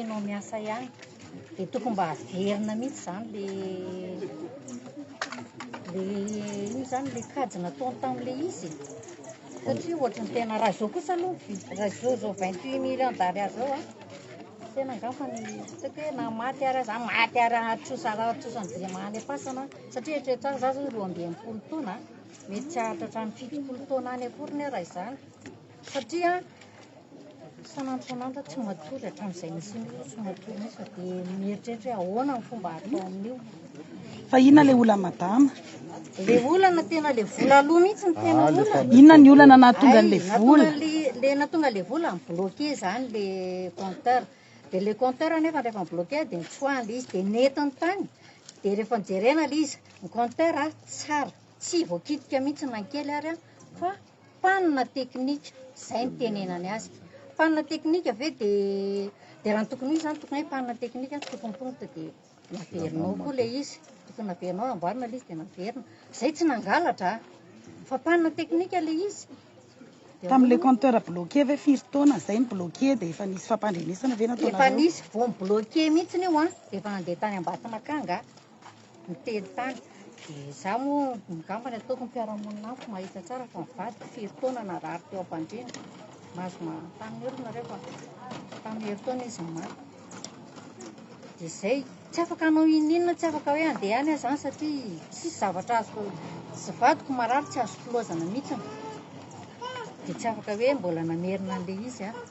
Enao miasa ihany dia tokony mba averina mihitsy izany le le iny izany le kajy nataony tamin'le izy satria ohatra ny tena raha izao kosa aloha raha izao izao vingt huit million d'ariary izao a tena angamba ny ataoko hoe na maty ary aza maty ary atrosa atrosan'Andriamanitra am-pasana satria eritrereto aho za izao roa amby enimpolo taona mety tsy hahatratra ny fitopolo taona any akoriny aho raha izany Satria isan'andro isan'andro tsy matory hatramin'izay nisian'io tsy matory mihitsy dia mieritreritra hoe ahoana ny fomba hatao amin'io. Fa inona ilay olana madama? Ilay olana tena ilay vola aloha mihitsy no tena ah, olana. Inona ny olana nahatonga an'ilay vola? Ilay nahatonga an'ilay vola mi-bloqué izany ilay compteur. Dia ilay compteur anefa rehefa mi-bloqué dia nitsoahana ilay izy dia nentiny tany. Dia rehefa nojerena ilay izy, ny compteur tsara, tsy voakitika mihitsy na kely ary fa. Mpanina teknika, izay no tenenany azy. Mpanina teknika ve dia, dia raha ny tokony ho izy izany, tokony hoe mpanina teknika no tokony tonta dia naverina ao koa ilay izy. Tokony naverina ao, namboarina ilay izy dia naverina. Izay tsy nangalatra an! Fa mpanina teknika ilay izy. Dia hoy Tamin'ilay ny- compteur bloqué ve firy taona izay ny bloqué dia efa nisy fampandrenesana ve Efa nataonareo? nisy vao mi-bloqué mihitsy io an! Dia efa nandeha tany Ambatonakanga. Miteny tany. Dia izaho moa angamba ny ataoko ny mpiara-monina amiko mahita tsara fa ny vadiko firy taona narary teo am-pandriana. Mahazo manontany ny olona ireo fa tamin'ny herintaona izy no maty. Dia izay, tsy afaka hanao ininona, tsy afaka hoe handeha any aho izany satria tsisy zavatra azoko, tsy vadiko marary tsy azoko loazana mihitsy. Dia tsy afaka hoe mbola namerina an'ilay izy aho.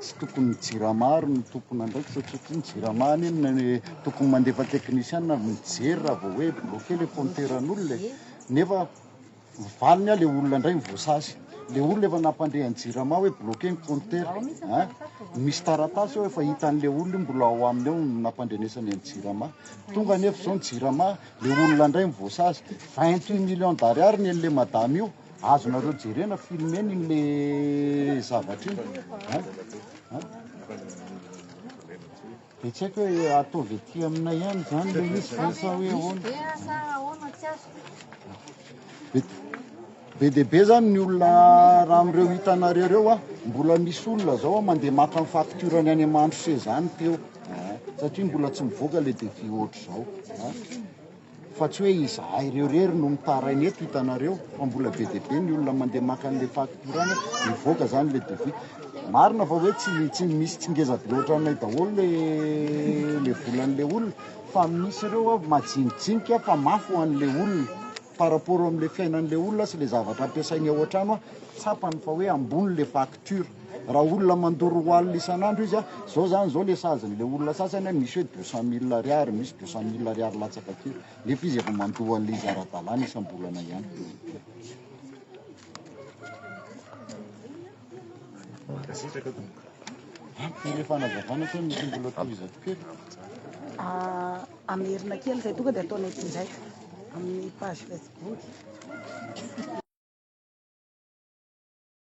Tsy tokony ny jirama ary no tompon'andraikitra satria ny jirama any no tokony mandefa teknisiana avy mijery raha vao hoe bloqué ilay fonnteran'olona e. Nefa valiny an ilay olona indray ny voasazy. Ilay olona efa nampandre an'ny jirama hoe bloqué ny compteur an. Misy taratasy eo efa hitan'ilay olona io mbola ao aminy ao no nampandrenesany an'ny jirama. Tonga anefa izao ny jirama, ilay olona indray ny voasazy. 28 millions d'ariary ny an'ilay madama io. Azonareo jerena film eny iny le zavatra iny an an de tsy haiko hoe ataovy aty aminay ihany zany le izy ve sa hoe ahoana be dia be zany ny olona raha amin'ireo hitanareo ireo a mbola misy olona zao a mandeha maka ny facture-ny any aman-dRose zany teo an satria mbola tsy mivoaka le devis ohatr'izao an Fa tsy hoe izahay ireo irery no mitaraina eto, hitanareo fa mbola be dia be ny olona mandeha maka an'ilay facture any, mivoaka izany ilay devis. Marina fa hoe tsy tsy misy tsy ngeza be ohatranay daholo ilay ilay volan'ilay olona fa misy ireo avy majinijinika fa mafy ho an'ilay olona par rapport amin'ilay fiainan'ilay olona sy ilay zavatra ampiasainy ao an-trano an, tsapany fa hoe ambony ilay facture. Tur. Raha olona mandoro wallet isan'andro izy an, zao zany zao le sazy n'le olona sasany an, misy hoe deux cent mille ariary, misy deux cent mille ariary latsaka aty, nefa izy efa mandoa an'le izy ara-dalàna isam-bolana ihany. Mankasitraka tompoko. Ampy le fanazavana sa misy mbola toy izato kely? Ah, amerina kely zay tonga de ataonay tsinjaitra amin'ny page facebook.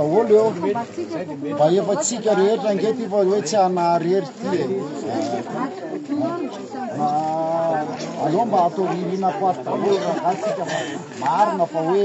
Daholo eo mba efa tsika rehetra ange ty fa hoe tsy anaharery ty e aleo mba atao ririna ko ato daholo rahatsika fa marina fa hoe